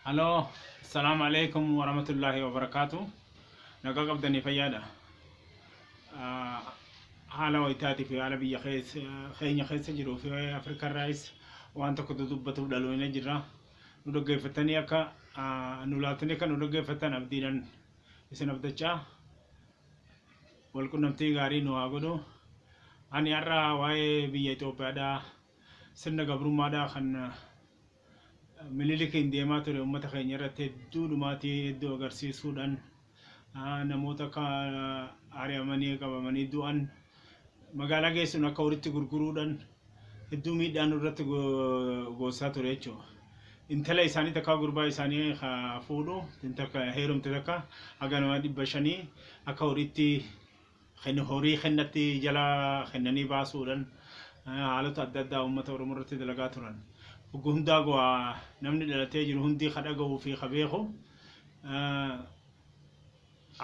Haloo Assalamu alaikum warahmatullahi wabarakatuh nagaa qabdanii fayyaadha Ah, haala wayitaatii fi haala biyya keessa keenya keessa jiruu fi Afrikaa irraayis waan tokko dudubbatuuf dhaloona jirra nu dhaggeeffatanii akka ah, nu laaltanii akka nu dhaggeeffattan abdiidhan isin abdachaa wal qunnamtii gaarii nu haa godhu ani har'a waa'ee biyya Itoophiyaadhaa sirna gabrummaadhaa kan ah, Minilikiin deemaa ture uummata keenya irratti hedduu dhumaatii hedduu agarsiisuudhaan ah, namoota akka ah, ari'amanii qabamanii du'an magaalaa geessuun akka horitti gurguruudhaan hedduu miidhaan irratti go- goosaa ture jechuudha. Intala isaanii takka gurbaa isaanii ka fuudhu takka heerumte takka haga nama dhibba shanii akka horitti Ken- horii kennatti jala kennanii baasuudhan eh, haalota adda addaa uummata Oromoo irratti dalagaa turan. Oggu hundaa gowaa namni dhalatee jiru hundii ka dhaga'uu fi ka beeku eh,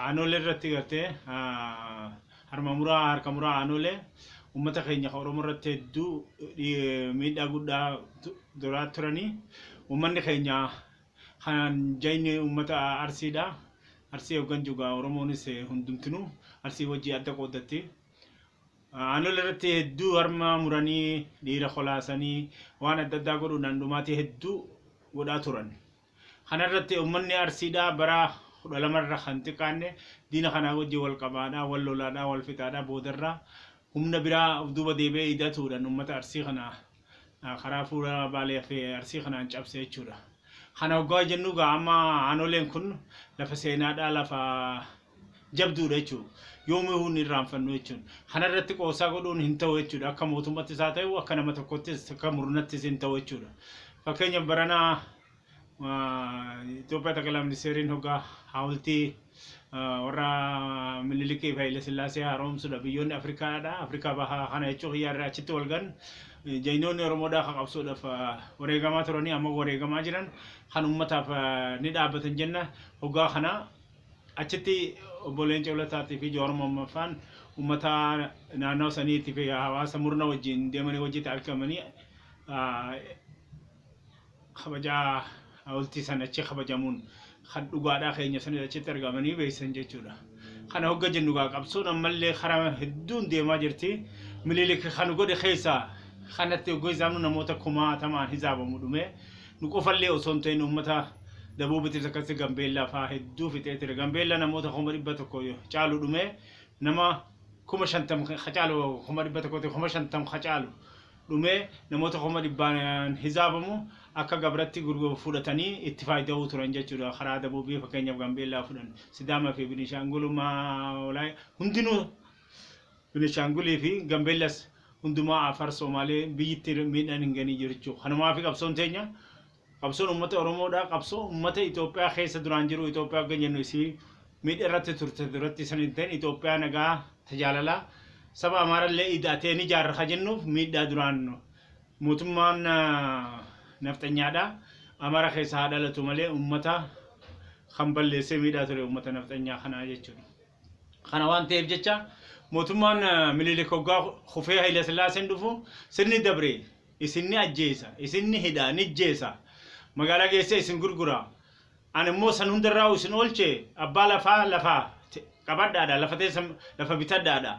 aanolee irratti gartee ah, harma muraa harka muraa aanolee uummata keenya ka Oromoo irratti hedduu eh, miidhaa guddaa tu- duraa turanii uummanni keenya Kanaan jayni ummata Arsiidha. Arsii hogganju egaa Oromoonis hundumtinu Arsii wajji adda qooddatti. Aanolee irratti hedduu harma muranii, dhiira kolaasanii, waan adda addaa godhuudhaan dhumaatii hedduu godhaa turan. Kana irratti ummanni Arsiidha bara 12 irra kan xiqqaanne diina kanaa wajji wal qabaadha, wal lolaadha, wal fixaadha, boodarra humna biraa of duuba deebi'ee ida'atuudhaan ummata Arsii kana karaa fuula Baalee fi Arsii kanaan cabse jechuudha. Kana hoggaa jennu egaa amma aanoleen kun lafa seenaadhaa lafa jabduudha jechuudha. Yoomii hin irraanfannu jechuudha. Kana irratti qoosaa godhuun hin ta'u jechuudha. Akka mootummaattis haa ta'u akka nama tokkottis akka murnattis hin ta'u jechuudha. Fakkeenyaaf baranaa Itoophiyaa Xaqilaa Ministeeriin hoggaa haawultii warra Minilikii fi Haile Sillaasee haaromsudha. Biyyoonni Afrikaadha. Afrikaa bahaa kana jechuun hiyyaarraa achitti wal gan jaynoonni Oromoodhaa ka qabsuudhaaf wareegamaa turanii amma wareegamaa jiran kan uummataaf ni dhaabbatan jenna. Hoggaa kana achitti obbo Leencoo Lataatii fi Jawaar Mohammedfaan uummata naannawa saniitii fi hawaasa murna wajjin deemanii wajjitti argamanii kabaja hawultii san achi kabajamuun kan dhugaadhaa keenya sanis achitti argamanii beeysan jechuudha. Kana hogga jennu gaa qabsoon ammallee karaa hedduun deemaa jirti. Mililik kan godhe keessaa kanatti hogga hisaabnu namoota kumaatamaan hisaabamu dhume. Nu qofallee osoo hin ta'in uummata dabuubitis akkasii Gambeellaa fa'aa hedduu fixee ture. Gambeellaa namoota kuma dhibba tokko caalu dhume. Nama kuma shantam ka caalu kuma dhibba tokkotti kuma shantam ka caalu dhumee namoota kuma dhibbaan hizaabamu akka gabratti fudhatanii itti faayida'uu turan jechuudha. Karaa dabuubii fakkeenyaaf Gambeellaa fudhan Sidaamaa fi Binishaangulumaa hundinuu Binishaangulii fi Gambeellas hundumaa Afar Soomaalee biyyitti miidhaan hin ganii jiru jechuudha. Kanumaaf qabsoon teenya Qabsoon ummata Oromoo dha. Qabsoo ummata Itoophiyaa keessa duraan jiru Itoophiyaa hoggan jennu isii miidha irratti turte duratti san hin ta'in Itoophiyaa nagaa ta jaalalaa saba Amaara illee ida'atee ni jaarra ka jennuuf miidhaa duraan mootummaan nafxanyaa dha. Amaara keessa haa dhalatu malee ummata kan balleessee miidhaa ture ummata nafxanyaa kanaa jechuudha. Kana waan ta'eef jecha mootummaan Minilik hoggaa kufee Hayila Sillaaseen dhufu sirni dabre isin ni ajjeesa, isin ni hidha, ni jjeesa, magaalaa geessee isin gurgura, ani immoo san hunda irraa isin oolche, abbaa lafaa lafa qabadhaadha, lafa teessa lafa bitadhaadha,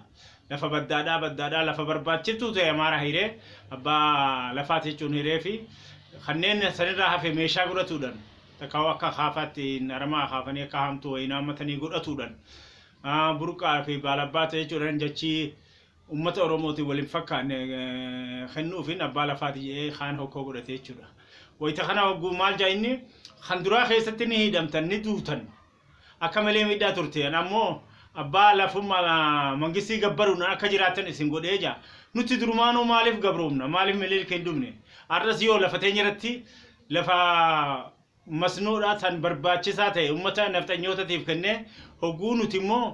lafa baddaadhaa baddaadhaa, lafa barbaachiftuu ta'e Amaaraa hiree, abbaa lafaati jechuun hiree fi kanneen san irraa hafe meeshaa godhatuudhan, takka akka akaafaatti aramaa akaafanii akka haamtuu wayii naammatanii godhatuudhan, burqaa fi baalabbaata jechuudhan jachii ummata Oromootiin wal hin fakkaanne kennuufiin abbaa lafaati jedhee kaan hokkoo godhate jechuudha. Wayita kana hogguu maal jedha inni kan duraa keessatti ni hidhamtan ni duutan akka malee miidhaa turteen ammoo abbaa lafummaa mangistii gabbaruun akka jiraattan isin godhee jaa nuti durumaanuu maaliif gabroomna maaliif miliilka hin dubne har'as yoo lafa teenya irratti lafa masnoodhaa tan barbaachisaa ta'e ummata nafxanyootatiif kennee hogguu nuti immoo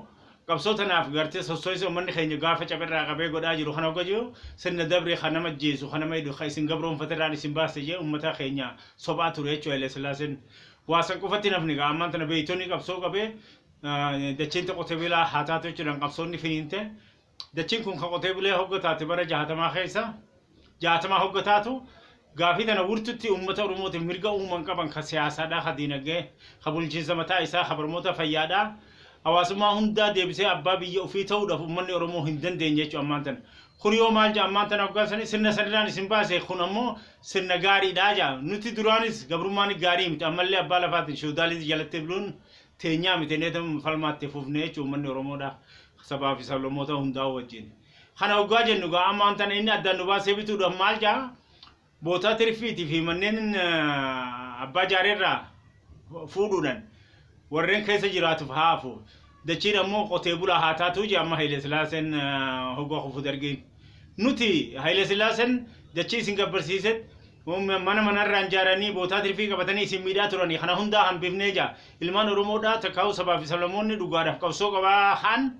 qabsoo tanaaf gartee sosso'insa ummanni keenya gaafa cabe irraa qabee godhaa jiru kana hogga jiru sirna dabre ka nama ajjeesu ka nama hidhu ka isin gabroomfate irraan isin baase jee ummata keenya sobaa ture jechuu Hayilasillaaseen waa san qofatti hin hafne gaa ammaan tana beeytonni qabsoo qabee dachiin ta qote bilaa haa taatu jechuudhaan qabsoonni finiinte Dachiin kun kan qotee bulee hogga taate bara jahaatamaa keessa jahaatamaa hogga taatu gaafii tana wurtutti uummata Oromootiin mirga uuman qaban ka siyaasaadhaa, ka diinagdee, ka bulchiinsa mataa isaa, ka barmoota fayyaadhaa hawaasummaa hundaa deebisee abbaa biyya ufii ta'uudhaaf uummanni Oromoo hin dandeenye jechuudha ammaan tana. Kun yoo maal ja'a ammaan tana hoggaa sanii sirna sanirraan isin baase kun ammoo sirna gaariidhaa ja'a. Nuti duraanis gabrummaan gaarii miti ammallee abbaa lafaatiin feodalism jalatti buluun teenyaa miti illee tamuma falmaa itti fufne jechuun uummanni Oromoodha. Sabaa fi sablammoota hundaa wajjin. Kana hoggaa jennu gaa amma wanta inni addaan nu baasee bituudhaaf maal jaa bootaa tirfiitii fi manneen abbaa jaareerraa fuudhuudhaan warreen keessa jiraatuuf haafu. Dachiin ammoo qotee bulaa haa taatuu jee amma Haile Sillaaseen hoggaa kufu dargiin. Nuti Haile Sillaaseen dachii isin gabbarsiisetti Mana mana irraa ijaaranii bootaa tirfii qabatanii isin miidhaa turani. Kana hundaa hambifnee jaa. Ilmaan Oromoodhaa takkaa'uu sabaa fi sablammoonni dhugaadhaaf qabsoo qabaa haan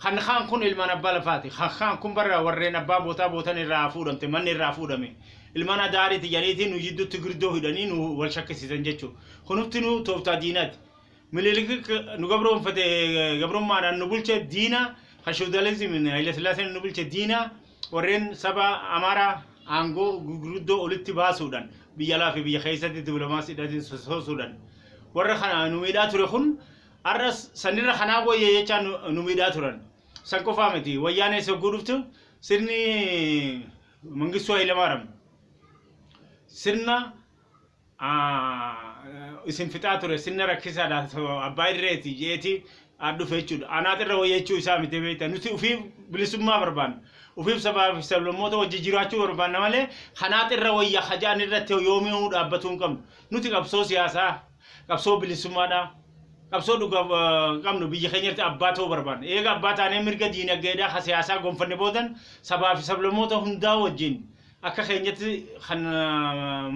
kan kaan kun ilmaan abbaa lafaati. Kan kaan kun barra warreen abbaa bootaa bootan irraa fuudhamte manni irraa fuudhame. Ilmaan adaariiti janiitii nu jidduutti girdoo hidhanii nu wal shakkisiisan jechuudha. Kunufti nu tooftaa diinaati. Minilik nu gabroomfate gabrummaadhaan nu bulche diina kan feodalizimiin Hayilasillaaseen nu bulche diina warreen saba Amaaraa aangoo gurguddoo olitti baasuudhaan biyya alaa fi biyya keessatti diplomaasiidhaan sosoosuudhaan warra kana nu miidhaa ture kun har'as sanirra kanaa wayya jechaa nu- nu miidhaa turan. San qofaa miti wayyaanee sogguu dhuftu sirni Mangistuu Hayilamaaram sirna isin fixaa ture sinna rakkisaadha abbaa irreeti jeeti dhufe jechuudha. Anaat irra wayya jechuu isaa miti beekta. Nuti ofii bilisummaa barbaanna. Ofiif sabaa fi sablammoota wajji jiraachuu barbaanna malee kanaat irra wayya hajaan irratti yoomiyuu dhaabbatuu hin qabnu. Nuti qabsoo siyaasaa, qabsoo bilisummaadha. Qabsoo dhugaa qabnu biyya keenya irratti abbaa ta'uu barbaanna. Eega abbaa taanee mirga diinagdeedhaa ka siyaasaa gonfanne boodan sabaa fi sablammoota hundaa wajjin Akka keenyatti kan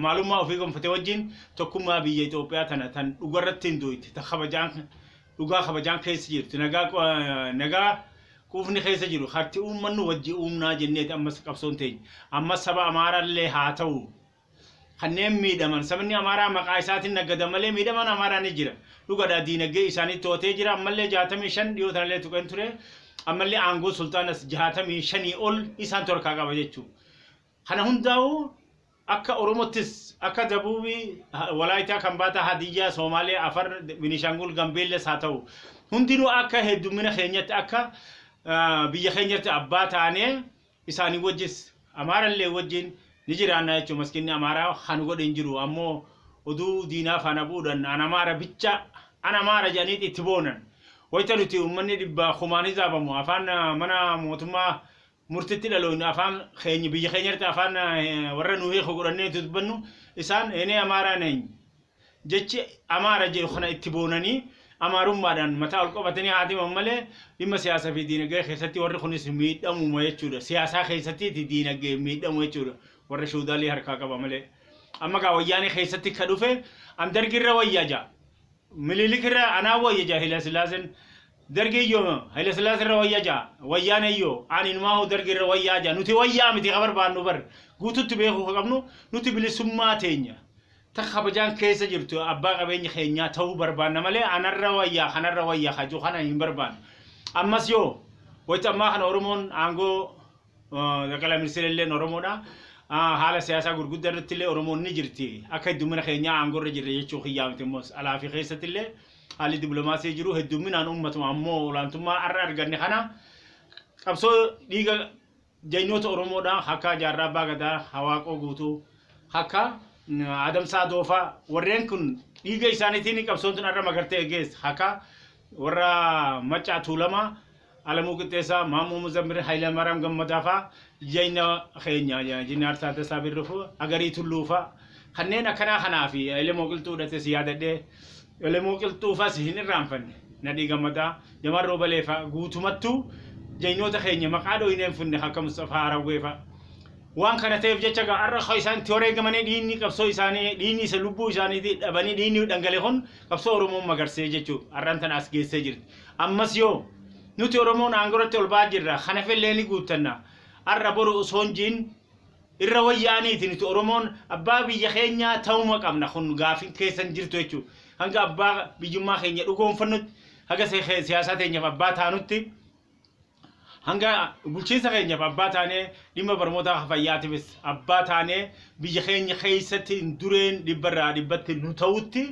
maalummaa ofii gonfate wajjin tokkummaa biyya Itoophiyaa tana tan dhugarratti hindoyte, ta kabajaan dhugaa kabajaan keessa jirtu, nagaa nagaa quufni keessa jiru harti uummannu wajji uumnaa jenneeti ammas qabsoon teenya. Ammas saba Amaaraallee haata'u kanneen miidhaman sabni Amaaraa maqaa isaatin naggadan malee miidhaman Amaaraa ni jira dhugadha diinagdee isaanii to'atee jira ammallee 65 dhiyoo tanallee tuqeen ture ammallee aangoo sulxaanas 65 ol isaantu harkaa qaba jechuu kana hundaa'u akka Oromottis akka Dabuubii Walaayitaa Kambaataa Hadiyyaa Soomaalee Afar Binishaangul Gambeellas haa ta'u hundinuu akka heddummina keenyatti akka biyya keenyatti abbaa taanee isaanii wajjis Amaara illee wajjin ni jiraanna jechuun maskiinni Amaaraa kan godhe hin jiru. Ammoo oduu diinaa faana bu'uudhaan an Amaara bicha an Amaara jedhaniiti itti boonan. Wayita nuti uummanni dhibbaa kumaan hizaabamu afaan mana mootummaa murtitti dhaloynu afaan keenya biyya keenyarratti afaan warra nu hiiku godhannee dubbannu isaan enee Amaaraa neny jechi Amaara jedhu kana itti boonanii Amaarummaadhaan mataa ol qabatanii haa deeman malee dhimma siyaasaa fi diinagdee keessatti warri kunis miidhamuma jechuudha. Siyaasaa keessattiiti diinagdeen miidhamu jechuudha. Warra shoodaalii harkaa qaba malee. Amma gaa wayyaanee keessatti ka dhufe an dargirra wayya ja. Mililikirra anaa wayya ja Hayilasillaaseen. Dargiyyoo Hayilasillaasirra wayya ja. Wayyaaneyyoo ani inumaahuu dargirra wayyaa ja. Nuti wayyaa miti ka barbaannu bar. Guututti beekuu ka qabnu nuti bilisummaa teenya. ta kabajaan keessa jirtu abbaa qabeenya keenyaa ta'uu barbaanna malee anarra wayyaa kanarra wayyaa kajuu kana hin barbaannu. Ammas yoo wayita ammaa kana Oromoon aangoo eh, Xaqalaa Ministeera illeen Oromoodha. Ah, Haala siyaasaa gurguddaa irratti illee Oromoon ni jirti. Akka heddummina keenyaa aangoo irra jirra jechuu kiyyaa miti immoo alaa fi keessatti illee haalli diplomaasii jiru heddumminaan uummatuma ammoo olaantummaa har'a arganne kana qabsoo dhiiga Jagnoota Oromoodhaa akka Jaarraa Abbaa Gadaa, Hawaaqoo Guutuu, akka Adamsaa Doofaa warreen kun dhiiga isaaniitiin qabsoon tun har'a magar ta'e geesse. Akka warra Maccaa Tuulamaa, Alamuu Qixxeessaa, Maammoo Muzammir, Hayilamaaraam Gammadaa faa jagna keenya Injinaar Taaddasaa Birruu, Agarii Tulluu faa kanneen akkanaa kanaa fi Elemoo Qilxuu dhates yaadadhee Elemoo Qilxuu fas hin irraanfanne. Nadhii Gammadaa, Jamaal Roobalee fa'a guutumattuu jagnoota keenya maqaa dhooynee hin funne ka akka Musxafaa Harawwee fa'a. Waan kana ta'eef jecha egaa har'a ka isaan itti wareegamanii dhiigni qabsoo isaanii dhiigni isa lubbuu isaaniitii dhabanii dhiigni dhangale kun qabsoo Oromoo magarsee jechuu har'aan tana as geessee jirti. Ammas yoo nuti Oromoon aangoratti ol ba'aa jirra kana fellee ni guuttanna. Har'a boru osoo hin jiin irra wayyaaniiti nuti oromoon abbaa biyya keenyaa ta'uma qabna kun gaafin keessan jirtu jechuu hanga abbaa biyyummaa keenya dhugoonfannutti haga siyaasaa teenyaaf abbaa taanutti hanga bulchiinsa keenyaaf abbaa taanee dhimma barmootaa fayyaatiifis abbaa taanee biyya keenya keessatti dureen dhibbarraa dhibbatti nu ta'utti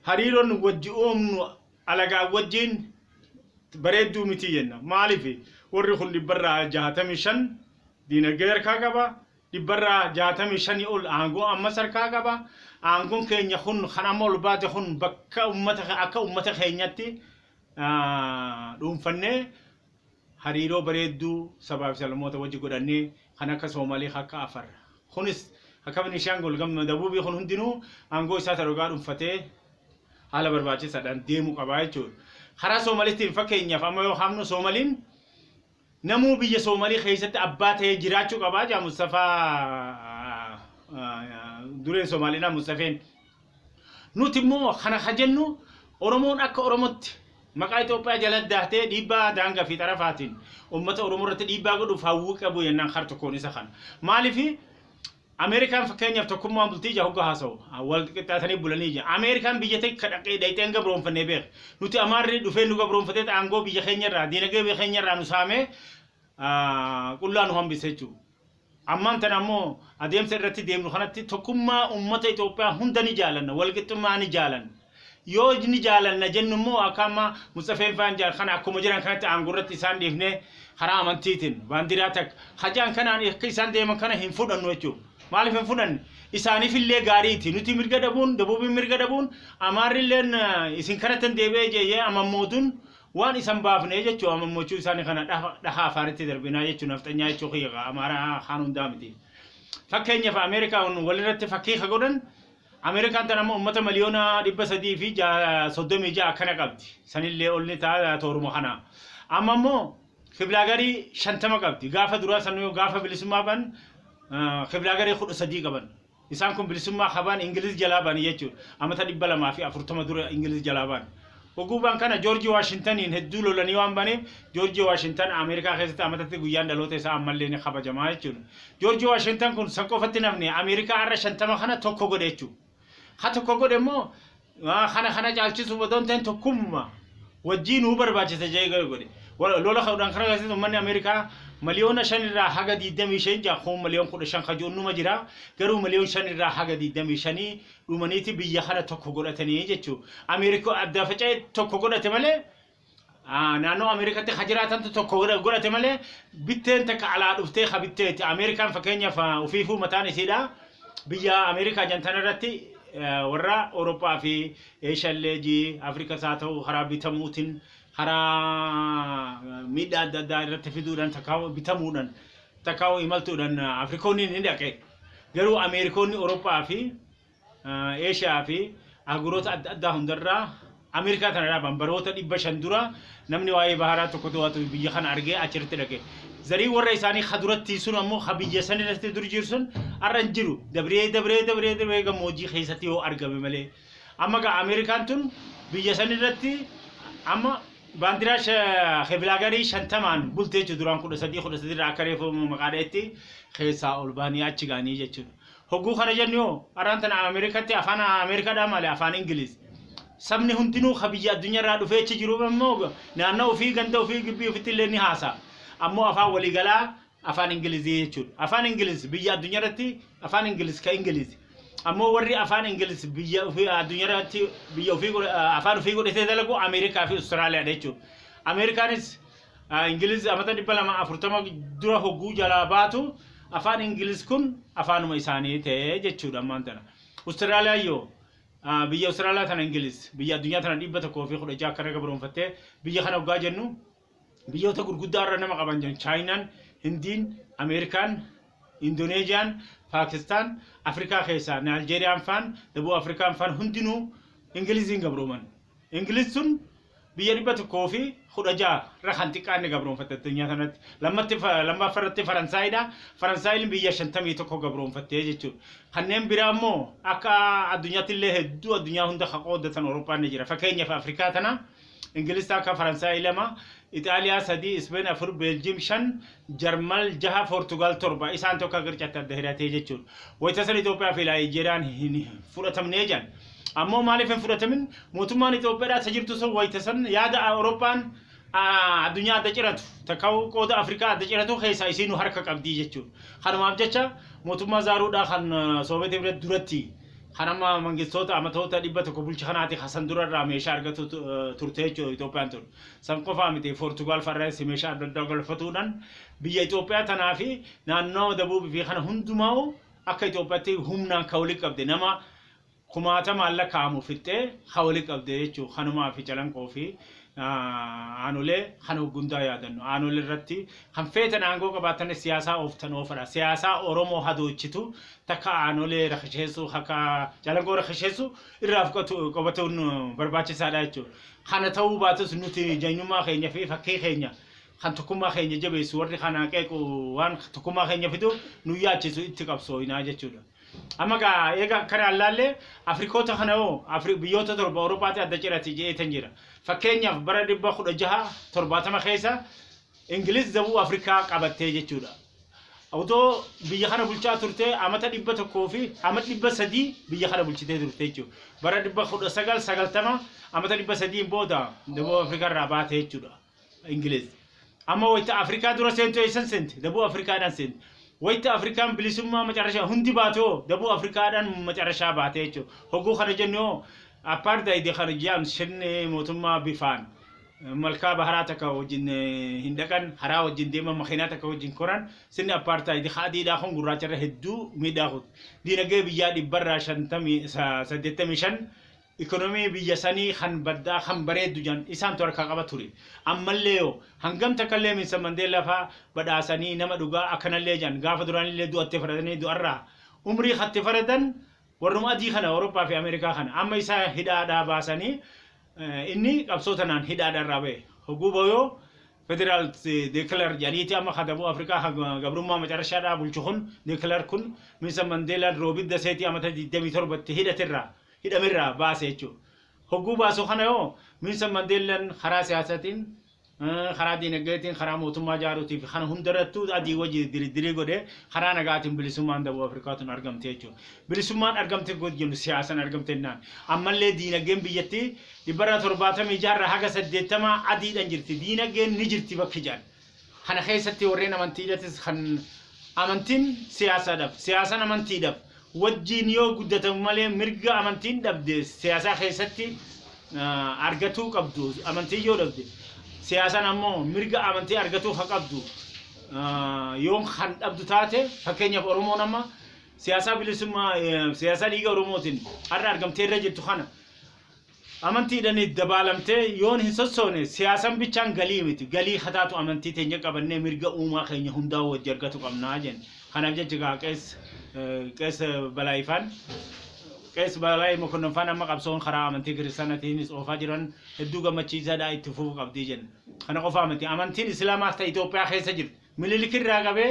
hariiroon wajji uumnu alagaa wajjiin bareedduu miti jenna maaliif warri kun dhibbarraa jaatamii shan Diinagdee harkaa qaba. Dhibbarraa 65 ol aangoo ammas harkaa qaba. Aangoon keenya kun kan amma ol baate kun bakka uummata akka uummata keenyatti dhuunfannee hariiroo bareedduu sabaa fi sablammoota wajji godhannee kan akka Soomalee kan akka Afar kunis akka Benishaangol gamma dabuubii kun hundinuu aangoo isaa tarogaa dhuunfatee haala barbaachisaadhaan deemuu qabaa jechuudha. Karaa Soomaliitiin fakkeenyaaf amma yoo kaafnu Soomaliin Namuu biyya Soomalii keessatti abbaa ta'ee jiraachuu qaba jedha Mustafaa dureen Somaaliidhaa Mustafeen. Nuti immoo kana ka jennu Oromoon akka Oromootti maqaa Itoophiyaa jala dahtee dhiibbaa daangaa fi xarafaatiin uummata Oromoo irratti dhiibbaa godhuuf hawwii qabu jennaan kar tokkoon isa kana. Maaliif Ameerikaan fakkeenyaaf tokkummaan bultii ija hogga haasawu wal qixxaatanii bulanii ija. Ameerikaan biyya takka dhaqee dhayxee hin gabroomfannee beeka. Nuti Amaarri dhufee nu gabroomfatee aangoo biyya keenya irraa diinagdee biyya keenya irraa nu saamee qullaa nu hambise jechuudha. Ammaan tana ammoo adeemsa irratti deemnu kanatti tokkummaa uummata Itoophiyaa hunda ni jaalanna, wal qixxummaa ni jaalanna. Yoo ni jaalanna jennu immoo akka amma Musxafeen faan jedhan kana akkuma jiran kanatti aangoo irratti isaan dhiifnee karaa amantiitiin baandiraa takka ka jedhan kanaan akka isaan deeman kana hin fudhannu jechuudha. Maaliif hin fudhanne? Isaaniif illee gaariiti. Nuti mirga dhabuun, dabuubiin mirga dhabuun, amaarri illeen eh, isin kanatti hin deebi'ee jeeyee amammootuun waan isan baafne jechuudha. Amammochuu isaanii kana dhaha dhaha afaaritti darbinaa jechuudha. Nafxanyaa jechuu kiyya amaaraa kaan hundaa miti. Fakkeenyaaf Ameerikaa kun walirratti fakkii ka godhan Ameerikaan tana ammoo ummata miliyoona 336 akkana qabdi. Sanillee ol ni ta'a tooruma kana. Amma ammoo kiblaagarii 50 qabdi. Gaafa duraa sanuu gaafa bilisummaa ban kiblaagarii 13 qaban. Isaan kun bilisummaa habaan Ingiliz jalaa ba'an jechuudha. Amata 240 dura Ingiliz jalaa ba'an. Uguban kana Joorji Waashintaniin hedduu lolanii waan ba'aniif Joorji Waashintan Ameerikaa keessatti amatatti guyyaan dhaloota isaa ammallee ni kabajama jechuudha. Joorji Waashintan kun san qofatti hin hafne Ameerikaa har'a 50 kana tokko godhe jechuudha. Ka tokko godhe immoo waa kana kana caalchisuuf odoo hin ta'in tokkumma wajjii nuu barbaachisa jedhee godhe. Wa- Lola ka'uudhaan kana keessatti uummanni Ameerikaa miliyoona 5 irraa haga 25 ja'a kun miliyoon 15 ka jiru numa jira garuu miliyoon 5 irraa haga 25 dhumaniiti biyya kana tokko godhatanii jechuu Ameerikaa adda faca'ee tokko godhate malee ah, naannoo Ameerikaatti ka jiraatantu tokko godha- godhate malee bitteen takka alaa dhuftee ka bitteeti Ameerikaan fakkeenyaaf ah, ufiifuu mataan isiidha biyya Ameerikaa jantan irratti ah, warra Awurooppaa fi Eeshallee ji Afrikaas haa ta'u karaa bitamuutiin karaa miidhaa adda addaa irratti fiduudhaan takkaa bitamuudhaan takkaa imaltuudhaan Afrikoonni ni dhaqe. Garuu Ameerikoonni Oroppaa fi Eeshiyaa fi ahguroota adda addaa hundarraa Ameerikaa kana dhaaban baroota 500 dura namni waa'ee baharaa tokko to'atu biyya kana argee achirratti dhaqe. Zariin warra isaanii ka duratti sun ammoo ka biyya sanirratti dur jiru sun har'a hin jiru. Dabree dabree dabree dabree gammoojjii keessatti yoo argame malee. Amma egaa Ameerikaan tun biyya san irratti amma baandiraa sha- kebilaagarii shantamaan bultee jechuudha duraan kudha sadii kudha sadii irraa akka reefu maqaa dha'etti keessaa ol baanii achi ga'anii jechuudha. Hogguu kana jennu yoo araan tana Ameerikatti afaan Ameerikaadhaa malee afaan Ingiliz. Sabni hundinuu ka biyya addunyaa irraa dhufee achi jiru immoo naannoo ofii ganda ofii gibbii ofitti illee ni haasa'a. Ammoo afaan waliigalaa afaan ingilizii jechuudha. Afaan ingiliz biyya addunyaa irratti afaan ingiliz ka ingilizi. Ammoo warri afaan ingiliz biyya ofii addunyaa irratti biyya ofii godhe- ah, afaan ofii godhatee dalagu Ameerikaa fi Awustiraaliyaadha jechuudha. Ameerikaanis ah, ingiliz amata dhibba lama afurtama dura hogguu jalaa baatu afaan ingiliz kun afaanuma isaanii ta'e jechuudha ammaan tana. Awustiraaliyaan yoo ah, biyya Awustiraaliyaa tana ingiliz biyya addunyaa tana dhibba tokkoo fi kudha ja'a akka irra gabroonfattee biyya kana hoggaa jennu biyyoota gurguddaa irra nama qaban jiran chaayinaan hindiin ameerikaan indoneeziyaan paakistaan afrikaa keessaa naaljeeriyaan faan dabuu afrikaan faan hundinuu ingiliziin gabrooman ingiliz sun biyya dhibba tokkoo fi kudha ja'a irra kan xiqqaanne gabroonfatte addunyaa sanatti lammatti lammaaffa irratti faransaayidha faransaayilin biyya shantamii tokko gabroonfattee jechuudha kanneen biraa immoo akka addunyaatti illee hedduu addunyaa hunda ka qooddatan awurooppaan ni jira fakkeenyaaf afrikaa tana Ingilis takka, Faransaay lama, Ixaaliyaa sadii, Ispeen afur, Beeljiyim shan, Jarmal jaha, Poortugaal torba. Isaan tokko akka qircatti adda hirate jechuudha. Wayita san Itoophiyaa fi Laayijeeriyaan hin fudhatamnee jedhan. Ammoo maaliif hin fudhatamin? Mootummaan Itoophiyaadhaa isa jirtu sun wayita san yaada Awurooppaan addunyaa adda ciratu takka qooda Afrikaa adda ciratu keessaa isiinu harka qabdii jechuudha. Kanumaaf jecha mootummaa Zaaruudhaa kan Soobeetii bira duratti Kan amma mangistoota amatoota 100 bulche kanaati ka san dura irraa meeshaa argatu tu- eh, turte jechuudha Itoophiyaan tun. San qofaa miti Poortugaal farreessi meeshaa adda addaa galfatuudhaan biyya Itoophiyaa tanaa fi naannoo dabuubii fi kana hundumaa'u akka Itoophiyaatti humnaan ka walitti qabde nama kumaatamaan lakkaa'amu fixxee ka walitti qabde jechuudha. Kanumaa fi calanqoo fi ah, aanolee kana hoggundaa yaadannu. Aanolee irratti kan feetan aangoo qabaattanis siyaasaa ooftan oofadha. Siyaasaa Oromoo hadoochitu takka aanolee rakasheessuu akka Calanqoo rakasheessuu irraa of qubatuun barbaachisaadha jechuudha. Kana ta'uu baatus nuti jeenyummaa keenya fi fakkii keenya kan tokkummaa keenya jabeessu warri kana qeequ waan tokkummaa keenya fiduuf nu yaachisu itti qabsooyinaa jechuudha. Amma gaa eega akkana allaallee Afrikoota kana hoo biyyoota torba Awurooppaatti adda cirati jeetan jira. Fakkeenyaaf bara dhibba kudha jaha torbaatama keessa Ingiliz dabuu Afrikaa qabattee jechuudha. Otoo biyya kana bulchaa turtee amata dhibba tokkoo fi amata dhibba sadii biyya kana bulchitee turte jechuudha. Bara dhibba kudha sagal sagaltama amata dhibba sadiin booda dabuu Afrikaa irraa baate jechuudha. Ingiliz. Amma wayita Afrikaa dura seentu eessan seente? Dabuu Afrikaadhaan seente. Wayita Afrikaan bilisummaa macarashaa hundi baate hoo dabuu Afrikaadhaan macarashaa baate jechuudha. Hoguu kana jennu hoo appaardaayidii kana ji'aan sirni mootummaa bifaan malkaa baharaa takka wajjin hin dhaqan haraa wajjin deeman makiinaa takka wajjin koran sirni appaartaayidi ka adiidhaa kun gurraacha irra hedduu miidhaa kutu diinagdee biyyaa dhibbarraa shantamii saddeettamii shan ikoonomii biyya sanii kan baddaa kan bareeddu jedhan isaantu harkaa qaba ture ammallee yoo hangam takkallee minsa mandeellaa faa badhaasanii nama dhugaa akkanallee jedhan gaafa duraanillee du'attee faradanii du'arraa umrii katti faradan Warruma adii kana Awuroppaa fi Ameerikaa kana amma isa hidhaadhaa baasanii inni qabsoo tanaan hidhaadha irraa bahe hoguu bahu federal declare jedhaniiti amma ka dabuu Afrikaa ka gabrummaa macarashaadhaa bulchu kun declare kun Minsa Mandeelaan Roobit Daseetii amata 27 tti hidhatirraa hidhamerraa baase jechuu hogguu baasu kana yoo Minsa Mandeelaan karaa siyaasatiin karaa diinagdeetiin, karaa mootummaa ijaaruutii fi kana hundarrattuu adii wajji diriddirii godhee karaa nagaatiin bilisummaan Dabub Afrikaa tun argamte jechuudha. Bilisummaan argamte gooti jennu siyaasan argamte jennaan. Ammallee diinagdeen biyyattii dhibbarraa torbaatamii jaarraa haga saddeettamaa adiidhan jirti. Diinagdeen ni jirti bakki jedhan. Kana keessatti warreen amantiidhatis kan amantiin siyaasaadhaaf, siyaasan amantiidhaaf, wajjiin yoo guddatamu malee mirga amantiin dhabde siyaasaa keessatti argatuu qabdu amantiin yoo dhabde siyaasaan ammoo mirga amantii argatuu ha qabdu yoo kan dhabdu taate fakkeenyaaf Oromoon amma siyaasaa bilisummaa siyaasaa dhiiga Oromootiin har'a argamtee irra jirtu kana Amantiidhani dabaalamtee yoon hin sossoone siyaasan bichaan galii miti. Galii ka taatu amantii teenya qabannee mirga uumaa keenya hundaa'uu wajji argatu qabna jenne. Kanaaf jecha egaa Qees Qees Balaay faan Qees Balaay Mokonnon faan amma qabsoon karaa amantii kiristaanatiinis oofaa jiran hedduu gammachiisaadha itti fufuu qabdi jenne. Kana qofaa miti amantiin Islaamaas ta Itoophiyaa keessa jirti. Minilik irraa qabee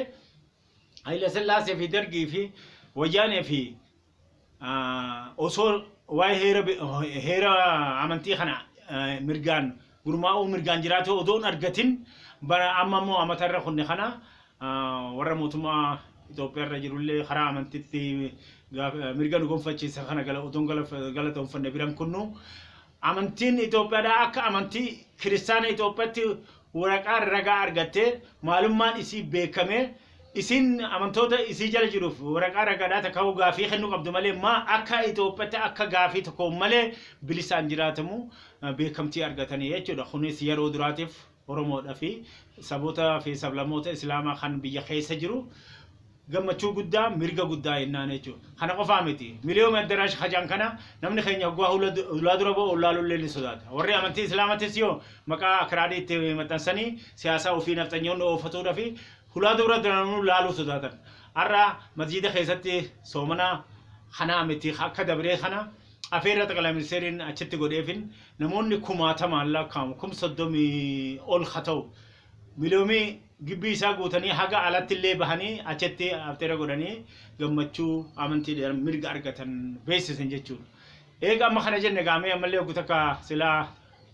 Hayila Sillaasee fi Dargii fi Wayyaanee fi osoo waa'ee heera bi- heera amantii kana eh, mirgaan gurmaa'uu mirgaan jiraatee odoo hin argatin bara amma immoo amata irra kunne kana ah, warra mootummaa Itoophiyaa irra jirullee karaa amantitti gaaf- eh, mirga nu gonfachiisa kana gala odoo hin galaf- galatoomfanne biran kunnu Amantiin Itoophiyaadhaa akka amantii kiristaana Itoophiyaatti waraqaa ragaa argattee maalummaan isii beekamee isiin amantoota isii jala jiruuf waraqaa ragaadhaa takkaahuu gaafii kennuu qabdu malee maa akka Itoophiyaatti akka gaafii tokkoon malee bilisaan jiraatamu beekamtii argatanii jechuudha. Kunis yeroo duraatiif Oromoodha fi saboota fi sablamoota Islaamaa kan biyya keessa jiru gammachuu guddaa mirga guddaa ennaan jechuudha. Kana qofaa miti. Miliyoom Addaraash Hajaan kana namni keenya hoggaa hulaa dura ba'u ollaaluu illee ni sodaata. Warri amantii Islaamatis yoo maqaa Akiraadii itti maxxansanii siyaasaa ofii nafxanyoonni oofatuudha fi hulaa dura duranuu laaluu sodaatan. Har'a masjiida keessatti soomana kanaa miti akka dabree kana Afeerraa Xaqalaa Ministeeriin achitti godheefin namoonni kumaatamaan laakkaa'amu kum soddomii ol ka ta'u miliyoomii gibbii isaa guutanii haga alatti illee bahanii achitti afteera godhanii gammachuu amantiidhaan mirga argatan beeksisan jechuudha. Eega amma kana jenne gaamee ammallee oggu takka silaa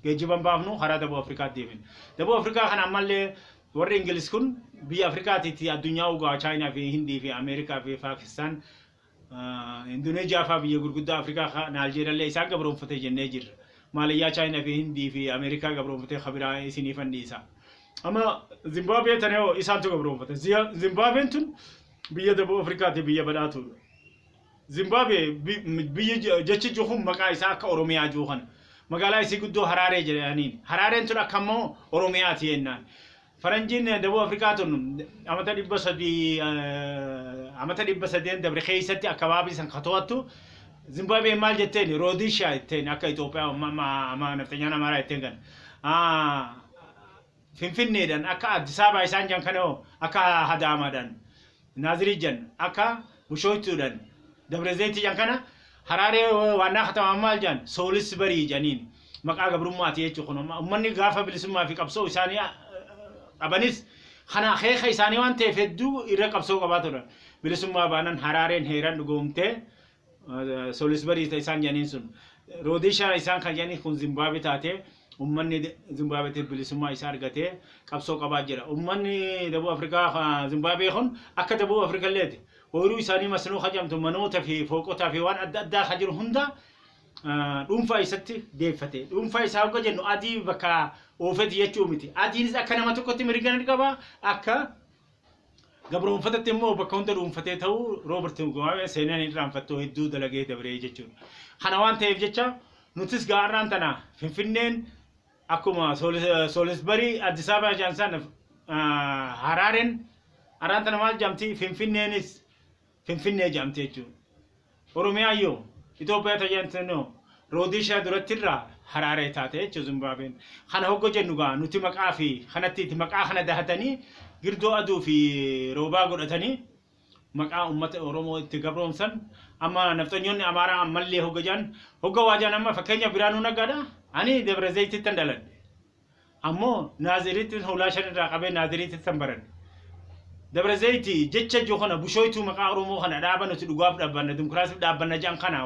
geejjiban baafnu karaa Daboo Afrikaatti deebin. Daboo Afrikaa kana ammallee warri Ingilis kun biyya Afrikaatiitti addunyaa ugaa Chaayinaa fi Hindii fi Ameerikaa fi Paakistaan Indoneezhiyaa fa'aa biyya gurguddaa Afrikaa ka Naaljeeriyaallee isaan gabroomfate jennee jirra. Maaliyyaa Chaayinaa fi Hindii fi Ameerikaa gabroomfatee ka biraa isiniifan dhiisa. Amma Zimbaabuwee tana yoo isaantu gabroomfate. Ziya- Zimbaabween tun biyya Daboo Afrikaati biyya badhaatuudha. Zimbaabuwee bi- m- biyyi je- jechi jiru kun maqaa isaa akka Oromiyaa jiru kana. Magaalaa isii guddoo Haraaree jedhaniin. Haraareen tun akka ammoo Oromiyaati jennaan. Faranjiin Dabuu Afrikaa tun amata dhibba sadii amata dhibba sadeen dabre keessatti akkabaabii san ka to'attu Zimbaabiin maal jetteen Roodishaa jetteen akka Itoophiyaa amma amma amma nafxanyaan Amaaraa jetteen kana. Ah, Finfinneedhaan akka Addis Ababaa isaan jan kana hoo akka Hadaamaadhaan Naazirii jan akka Bushooytuu dhan Dabrezeyti jan kana Haraaree waannaa katamaan maal jan Soolisbarii janiin maqaa gabrummaa ti jechu kun amma ummanni gaafa bilisummaa fi qabsoo isaanii qabanis kana akeeka isaanii waan ta'eef hedduu irra qabsoo qabaa turan bilisummaa baanan Haraareen heeran dhugoomtee Solisbarii ta isaan jedhaniin sun. Roodishaa isaan kan jedhanii kun Zimbaabe taate ummanni Zimbaabeetti bilisummaa isaa argatee qabsoo qabaa jira. Ummanni Dabuu Afrikaa ka Zimbaabee kun akka Dabuu Afrikalleeti. Ooyiruu isaanii masnoo ka jedhamtu manoota fi fooqotaa fi waan adda addaa ka jiru hunda ah, dhuunfaa isatti deeffate. Dhuunfaa isaa hogga jennu adii bakka oofeeti jechuu miti. Adiinis akka nama tokkotti mirga ni qaba, akka Gabroomfatatti immoo bakka hunda dhuunfatee ta'uu Roobert Mugabe seenaan hin irraanfattoo hedduu dalagee dabree jechuudha. Kana waan ta'eef jecha nutis gaarraan tana Finfinneen akkuma Soolisbarii Addis Ababaa jaan sana Haraareen arraan tana maal jaamti Finfinneenis Finfinnee jedhamti jechuun. Oromiyaan yoo Itoophiyaa tajaajilantinoo Roodishiyaa duratti irraa Haraaree taate jechuun Zimbaabeen. Kana hogga jennu gaa nuti maqaa fi kanatti itti maqaa kana dahatanii girdoo aduu fi roobaa godhatanii maqaa uummata Oromoo itti gabroomsan amma nafxanyoonni Amaaraa ammallee hogga jaan hogga waajaan amma fakkeenya Biraanuu Naggaadha ani Dabra Zayitittan dhaladhe. Ammoo Naaziriittin hoolaa shan irraa qabee Naaziriitittan baradhe. Dabra Zayiti jecha ijoo kana bushooytuu maqaa Oromoo kana dhaaba nuti dhugaaf dhaabbanna, dimokiraasiif dhaabbanna jedhan kana